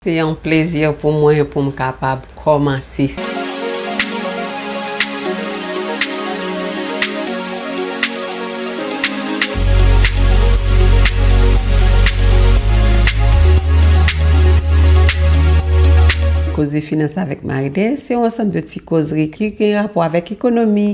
Se yon plezi pou mwen pou m kapab kòmanse. Koze finans avèk Maryde se yon ansanm de ti kozri ki gen rapò avèk ekonomi,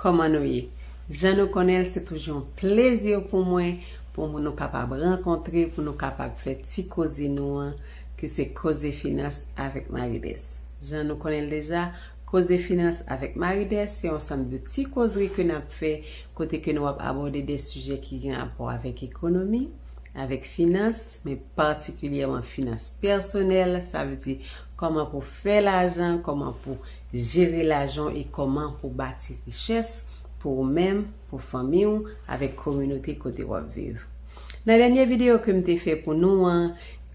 Kòman nou ye? Jan nou konnen l, se toujou yon plezi pou mwen pou nou kapab rankontre pou nou kapab fè ti koze nou an ki se Koze Finans avèk Maridès. Jan nou konnen l deja, Koze Finans avèk Maridès se yon sanm de ti kozri ke n ap fè kote ke nou ap abòde de sijè ki gen rapò avèk ekonomi, avèk finans, men patikilyèman finans pèsonèl, sa vle di kòman pou fè lajan, kòman pou Jere lajan e kòman pou bati richès pou ou menm, pou fanmi ou, avèk kominote kote w ap viv. Nan dènye videyo ke m te fè pou nou an,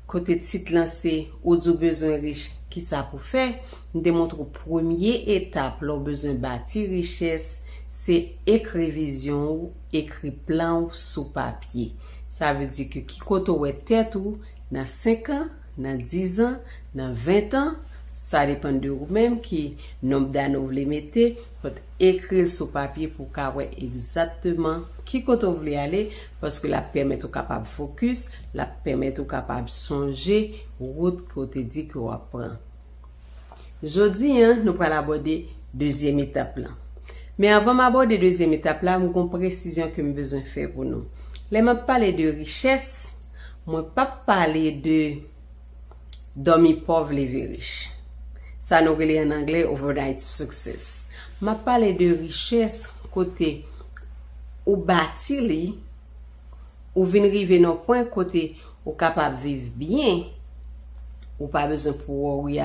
kote tit lan se Ou di w bezwen rich, kisa pou fè? m te montre w premye etap lè w bezwen bati richès se ekri vizyon ou, ekri plan ou sou papye. Sa vle di ke ki kote w wè tèt ou nan 5 an, nan 10 zan, nan 20 tan, sa depan de ou menm ki nonb dane ou vle mete, fòt ekri l sou papye pou w ka wè egzatteman ki kote ou vle ale, paske l ap pèmèt ou kapab fokis, l ap pèmèt ou kapab sonje wout ke w te di ke w ap pran. Jodi an, nou pral abòde dezyèm etap lan. Men avan m abòde dezyèm etap la, m gon presizyon ke m bezwen fè pou nou. Lè m ap pale de richès, mwen p ap pale de dòmi pòv leve rich. Sa nou rele an anglè overnight success. M ap pale de richès kote ou bati li ou vin rive nan pwen kote ou kapab viv byen, ou pa bezwen pou wòri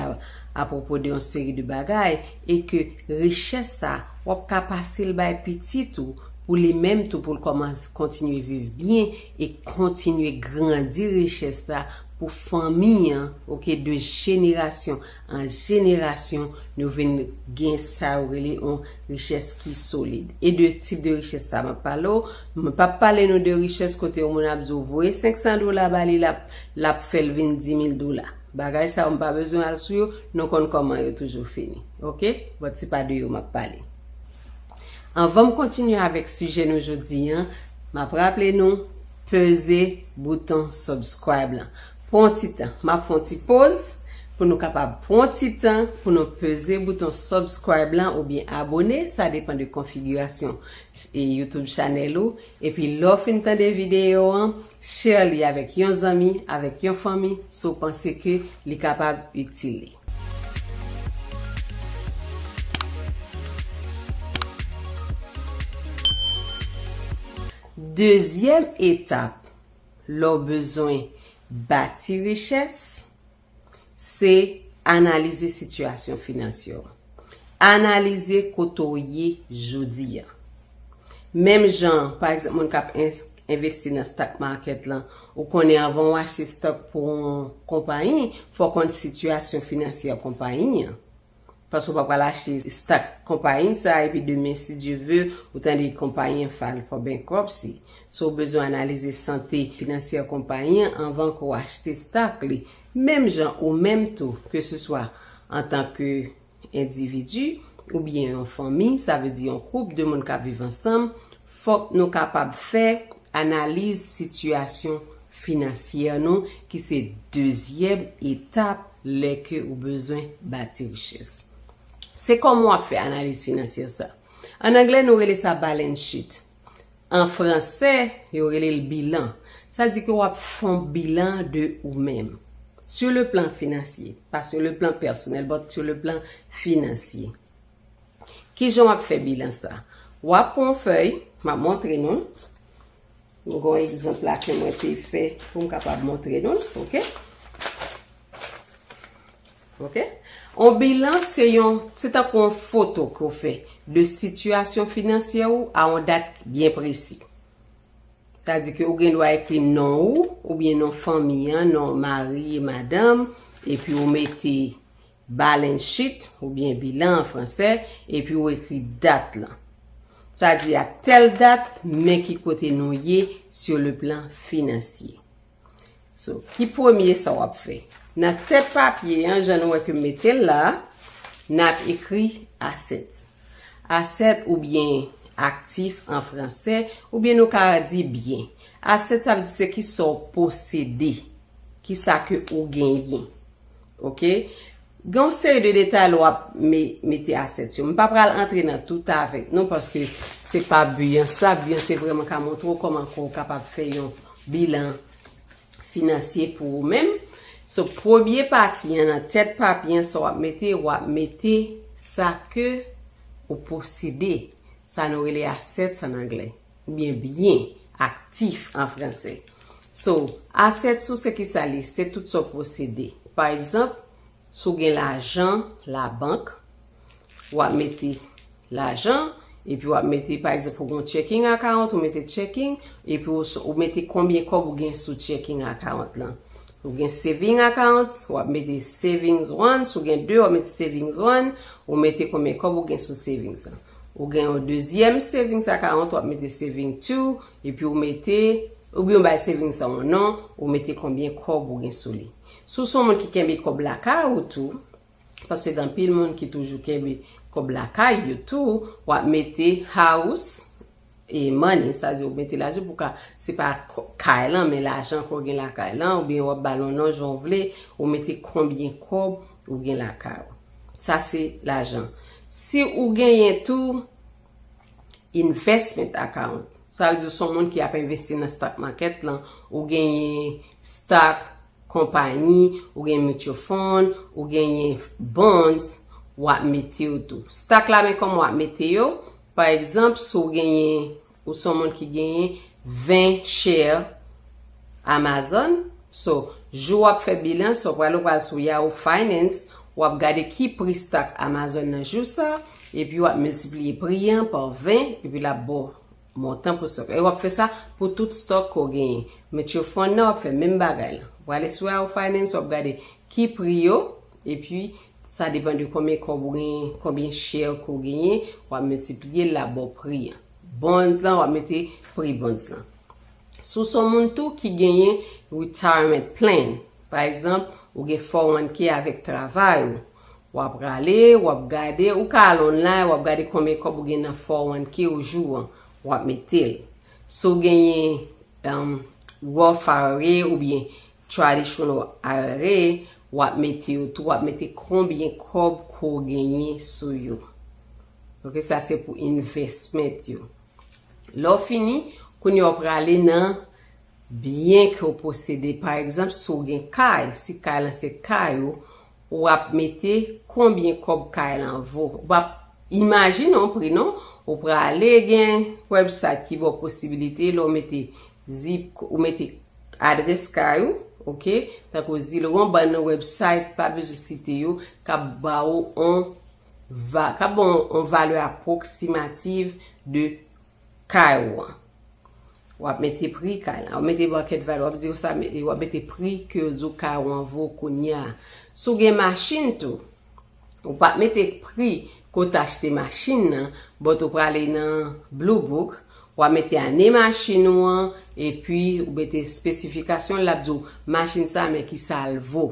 apwopo de yon seri de bagay, e ke richès sa w ap ka pase l bay pitit ou pou li menm tou pou l kòmanse kontinye viv byen e kontinye grandi richès sa pou fanmi an, ok, de jenerasyon An jenerasyon, nou vin gen sa yo rele yon richès ki solid. E de tip de richès sa a m ap pale w? Mwen p ap pale nou de richès kote yon moun ap di w voye 500 dola ba li l ap fè l vin 10,000 dola. Bagay sa yo m pa bezwen al sou yo, nou konn kòman yo toujou fini. Ok? Bon, se pa de yo m ap pale. Anvan m kontinye avèk sijè nou jodi an, m ap raple nou peze bouton subscribe lan. Pran yon ti tan. Map fè yon ti poz pou nou kapab pran yon ti tan pou nou peze bouton subscribe lan oubyen abone sa depan de konfigirasyon YouTube channel ou epi lè w fin tande videyo an share li avèk yon zanmi avèk yon fanmi si w panse ke li kapab itil li. Dezyèm etap Lè w bezwen bati richès, se analize sitiyasyon finansye w. Analize kote w ye jodi a. Menm jan, pa egzanp, moun k ap envesti nan stock market lan, ou konnen anvan w achte stock pou yon konpayi, fò w konn sitiyasyon finansye konpayi an. Paske ou pa pral achte stock konpayi sa epi demen si Dieu veut ou tande konpayi an file for bankruptcy. So ou bezwen analize sante finansyè konpayi an anvan ke w achte stock li. Menm jan ou menm tou ke se swa antan ke endividi ou byen yon fanmi sa vle di yon koup de moun kap viv ansanm fok nou kapab fè Analize sitiyasyon finansyè nou ki se dezyèm etap lè ke ou bezwen bati richès. Se kòman wap fè analiz finansyè sa. An anglè nou rele sa balance sheet. An fransè yo rele l bilan. Sa di ke wap fon bilan de ou menm. Sur le plan financier. Pa sur le plan personnel but sur le plan financier. Kijan w ap fè bilan sa? W ap pran yon fèy, m ap montre nou. M gen yon egzanp la ke mwen te fè pou m kapab montre nou. Ok. Ok. Yon bilan se yon, se tankou yon foto ke w fè de sitiyasyon finansyè ou a yon dat byen presi. Ta di ke ou gen dwa ekri non ou, oubyen non fanmi an, non mari, madanm, epi ou mete Balance sheet, oubyen bilan an fransè, epi ou ekri dat lan. Sa di a tèl dat, men ki kote nou ye sur le plan financier. So, ki premye sa w ap fè? Nan tèt papye an, jan nou wè ke m mete l la a, n ap ekri assets. Assets oubyen aktif an fransè, oubyen nou ka di byen. Assets sa vle di se ki sa w posede, ki sa ke ou genyen. Ok. Gen yon seri de detay lè w ap mete asèt yo. M pa pral antre nan tout avèk nou paske se pa bi an sa. Bi an se vrèman ka montre w kòman ke w kapab fè yon bilan finansye pou ou menm. So premye pati an nan tèt papye an sa w ap mete, w ap mete sa ke ou posede. Sa nou rele assets an anglè. Oubyen byen, aktif an franse. So, assets ou se ki sa li? Se tout sa w posede. Pa egzanp, si w gen lajan labank, w ap mete lajan, epi w ap mete, pa egzanp, ou gen yon checking account, ou mete checking, epi ou mete konbyen kòb ou gen sou checking account lan. Ou gen saving account, w ap mete savings one, si w gen de, w ap mete savings one, ou mete konbyen kòb ou gen sou savings lan. Ou gen yon dezyèm savings account wap mete saving to epi ou mete oubyen ou bay savings an yon non ou mete konbyen kòb ou gen sou li. Si w son moun ki kenbe kòb lakay ou tou, paske gen anpil moun ki toujou kenbe kòb lakay yo tou, wap mete house, E money sa di ou mete lajan pou ka se pa kay lan men lajan ke w gen lakay lan oubyen w ap ba l yon non jan w vle ou mete konbyen kòb ou gen lakay ou sa se lajan si ou genyen tou investment account sa vle di ou son moun ki ap envesti nan stock market lan ou genyen stock konpayi ou genyen mutual fund ou genyen bonds w ap mete yo tou stock la men kòman w ap mete yo Pa egzanp, si w genyen, ou se yon moun ki genyen 20 share Amazon, so, jou w ap fè bilan, so w prale ou pral sou Yahoo Finance, w ap gade ki pri stock Amazon nan jou sa, epi w ap miltipliye pri an pa 20, epi l ap ba w montan pou stock la. E w ap fè sa pou tout stock ke w genyen. Mutual Fund nan w ap fè menm bagay la. W prale sou Yahoo Finance, w ap gade ki pri yo, epi Sa depan de konbyen kob ou genyen, konbyen share ke w genyen, wap multipliye l la baw pri an. Bonds lan wap mete pri bonds lan. Si w son moun tou ki genyen retirement plan, pa egzanp ou gen 401k avèk travay ou, wap rale wap gade, ou ka al online wap gade konbyen kob ou gen nan 401k ou jou an, wap mete l. Si w genyen Roth ira oubyen Traditional are wap mete yo tou wap mete konbyen kob ko genyen sou yo ok sa se pou investment yo lè w fini kounye a w prale nan byen ke w posede pa egzanp si w gen kay si kay lan se kay ou Wap mete konbyen kob kay lan vo. Ou pap imajine yon pri non. Ou prale gen website ki baw posibilite lè w mete zip ou mete adrès kay ou ok tankou zilowon bann website pa bezwen site yo kap ba ou on va kap ba w on valè aproximative de kay ou an. W ap mete pri kay la. Ou mete market value. W ap di yo sa mete. W ap mete pri ke yo di w kay ou an vo kounye a. Si w gen machin tou, ou pa mete pri ke w te achte machin nan, but ou prale nan Blue Book, w a mete ane machin ou an, epi ou mete spesifikasyon l, l ap di w machin sa men kisa l vo.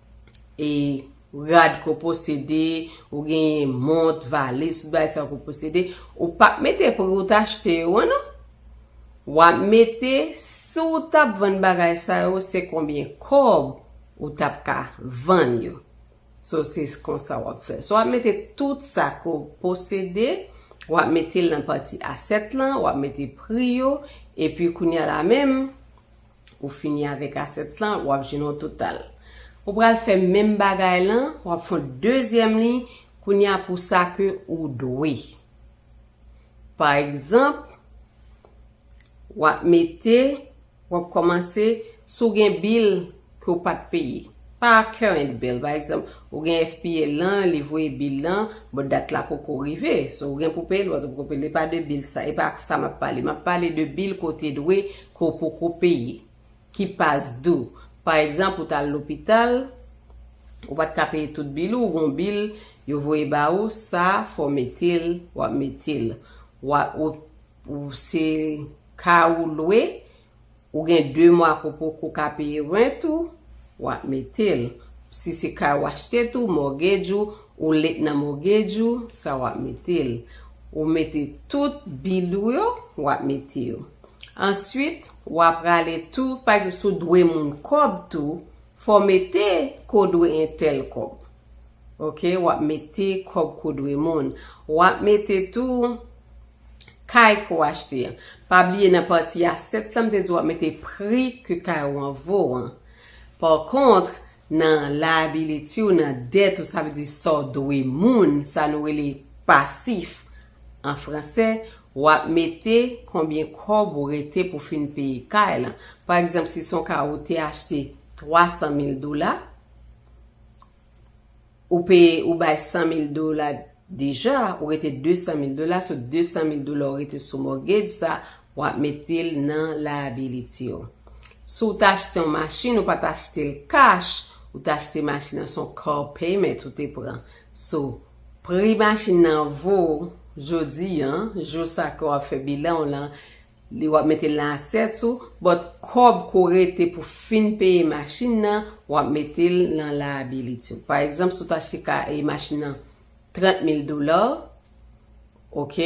e rad ke w posede, ou genyen mont, valiz, tout bagay sa yo ke w posede, ou pa p mete pri w te achte yo an non. W ap mete si w ta p vann bagay sa yo se konbyen kòb ou ta p ka vann yo. So se konsa w ap fè. So w ap mete tout sa ke w posede, w ap mete l nan pati asèt lan, w ap mete pri yo, epi kounye a la menm, Ou fini avèk assets lan, wap jwenn yon total. Ou pral fè menm bagay lan, wap fè yon dezyèm liy, kounye a pou sa ke ou dwe. Pa egzanp, wap mete, wap kòmanse, si w gen bill ke w pat peye. Pa current bill, pa egzanp, ou gen FPL lan, li voye bill lan, bon dat la poko rive, so ou gen pou peye lòt, ou poko peye, li pa de bill sa, e pa sa map pale. Map pale de bill ke w te dwe ke w poko peye, ki pas dou. Pa egzanp, ou t al lopital, ou pa t ka peye tout bil ou, ou gen yon bil yo voye ba ou, sa fò w mete l, w ap mete l. W a, ou, ou se ka ou lwe, ou gen 2 mwa ke w poko ka peye rent ou, w ap mete l. Si se kay ou achte tou, mortgage ou, ou late nan mortgage ou, sa w ap mete l. Ou mete tout bil ou yo, w ap mete yo. Answit, wa prale tou, pa egzanp si w dwe moun kòb tou, fò w mete ke w dwe entèl kòb. Ok, w ap mete kòb ke w dwe moun. W ap mete tou kay ke w achte an. Pa bliye nan pati a 7 sa m te di w ap mete pri ke kay ou an vo an. Pò kontr, nan liability w, nan dèt ou, sa vle di sa w dwe moun, sa nou rele pasif an franse, Wap mete konbyen kòb ou rete pou fin peye kay lan. Pa egzanp si son kay ou te achte 300 mil dola, ou peye ou bay 100 mil dola deja, ou rete 200 mil dola, so 200 mil dola ou rete sou mortgage sa, wap metel nan liability ou. Si w ta achte yon machin, ou pat achte l cash, ou ta achte machin nan son car payment ou te pran. So, pri machin nan vo jodi an, jou sa ke w ap fè bilan w lan, li w ap mete l nan asyèt ou, but kòb ke w rete pou fin peye machin nan, w ap mete l nan liability w. Pa egzanp, si w te achte ka e machin nan 30 mil dola, Ok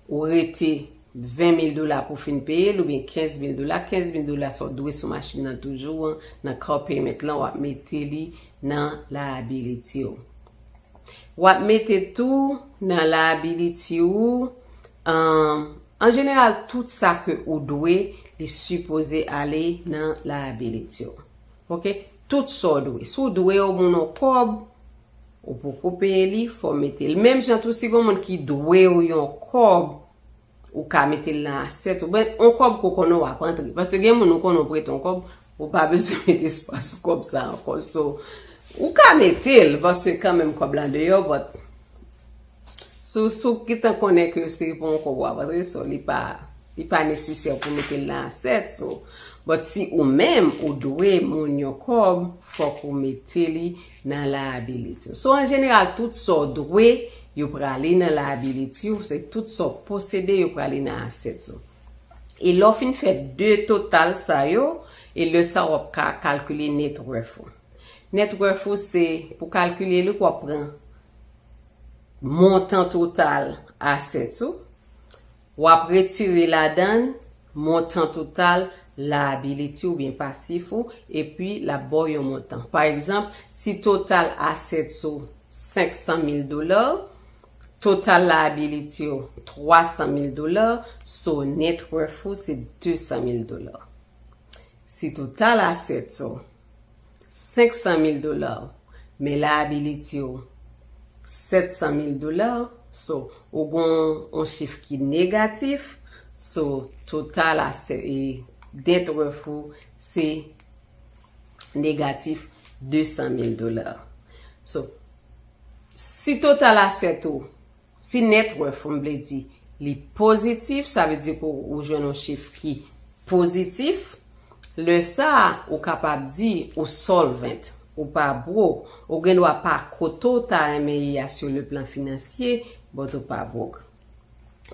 ou rete 20 mil dola pou fin peyel oubyen 15 mil dola 15 mil dola sa w dwe sou machin nan toujou an nan car payment lan wap mete li nan liability w wap mete tou nan liability ou an jeneral tout sa ke ou dwe li sipoze ale nan liability w ok tout sa w dwe si w dwe yon moun yon kòb Ou poko peye li fòw metel. Menm jan tou si gon moun ki dwew yon kòb ou ka metel nan asyèt ou ben on kòb ke w konnen wap antre paske gen moun ou konnen ou prete yon kòb ou pa bezwen met espwa sou kòb sa ankò so ou ka metel paske kanmenm kòb la deyò but sou sou gentan konnen ke se pou yon kòb wap antre so li pa li pa nesesè pou metel nan asyèt so but si ou menm ou dwe moun yon kòb fòk ou mete li Nan liability w. So an jeneral tout sa w dwe yo prale nan liability w, se tout sa w posede yo prale nan assets ou. E lè w fin fè 2 total sa yo, e lè sa w ap ka kalkile net worth ou. Net worth ou se pou kalkile li w ap pran montan total assets ou, W ap retire ladan l montan total liability oubyen pasif ou epi l ap ba w yon montan. Pa egzanp, si total assets ou 500 mil dola, total liability ou 300 mil dola, so net worth ou se 200 mil dola. Si total assets ou. 500 mil dola men la ability ou 700 mil dola so ou gen yon chif ki negatif so total asset e net worth ou se negatif 200 mil dola so si total asset ou Si net worth m vle di li pozitif sa vle di ke ou jwenn yon chif ki pozitif lè sa ou kapab di ou solvent ou pa broke ou gen dwa pa kote w ta renmen ye a sur le plan financier but ou pa broke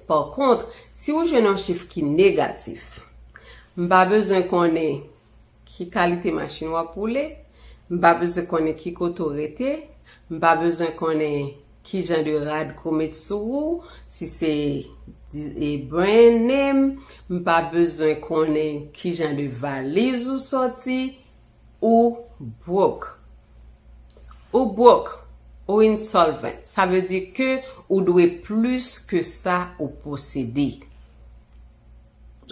par contre si ou jwenn yon chif ki negatif m pa bezwen konnen Ki kalite machin w ap woule? M pa bezwen konnen ki kote w rete. M pa bezwen konnen ki jan de rad ke w met sou ou, si se brand name. M pa bezwen konnen ki jan de valiz ou soti. Ou broke. Ou broke. Ou insolvent. Sa vle di ke ou dwe plis ke sa ou posede.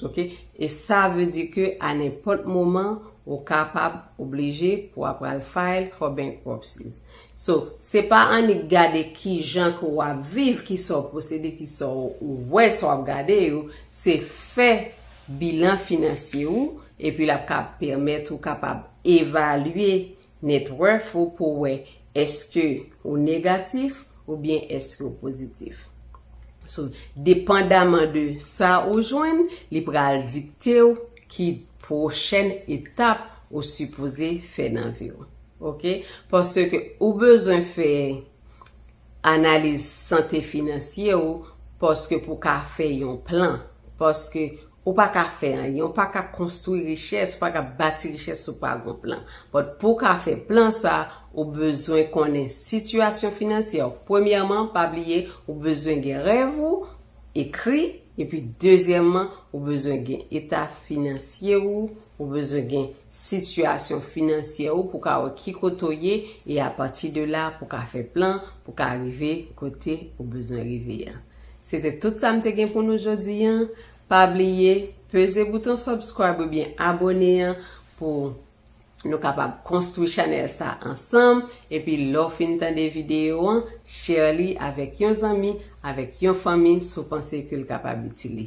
Ok e sa vle di ke a nenpòt moman ou kapab oblije pou a pral file for bankruptcy so se pa annik gade kijan ke ou ap viv kisa ou posede kisa ou wè sa wap gade yo se fè bilan finansye ou epi lap ka pèmèt ou kapab evalye Net worth ou pou wè eske ou negatif oubyen eske ou pozitif. So, depandaman de sa ou jwenn, li pral dikte w ki pwochèn etap ou sipoze fè nan vi w. Ok? Paske ou bezwen fè Analize sante finansye ou paske pou ka fè yon plan. Paske ou pa ka fè anyen, ou pa ka konstwi richès, ou pa ka bati richès si w pa gon plan. But pou w ka fè plan sa, ou bezwen konnen sitiyasyon finansye w. Premyèman, pa bliye ou bezwen gen rèv ou ekri epi dezyèman ou bezwen gen eta finansye ou Ou bezwen gen sitiyasyon finansyè ou pou ka wè ki kote ou ye e apati de la pou ka fè plan pou ka rive kote ou bezwen rive an. Se te tout sa m te gen pou nou jodi an. Pa bliye peze bouton subscribe oubyen abone an pou nou kapab konstwi chanèl sa ansanm epi lè w fin tande videyo an share li avèk yon zanmi, avèk yon fanmi si w panse ke l kapab itil li.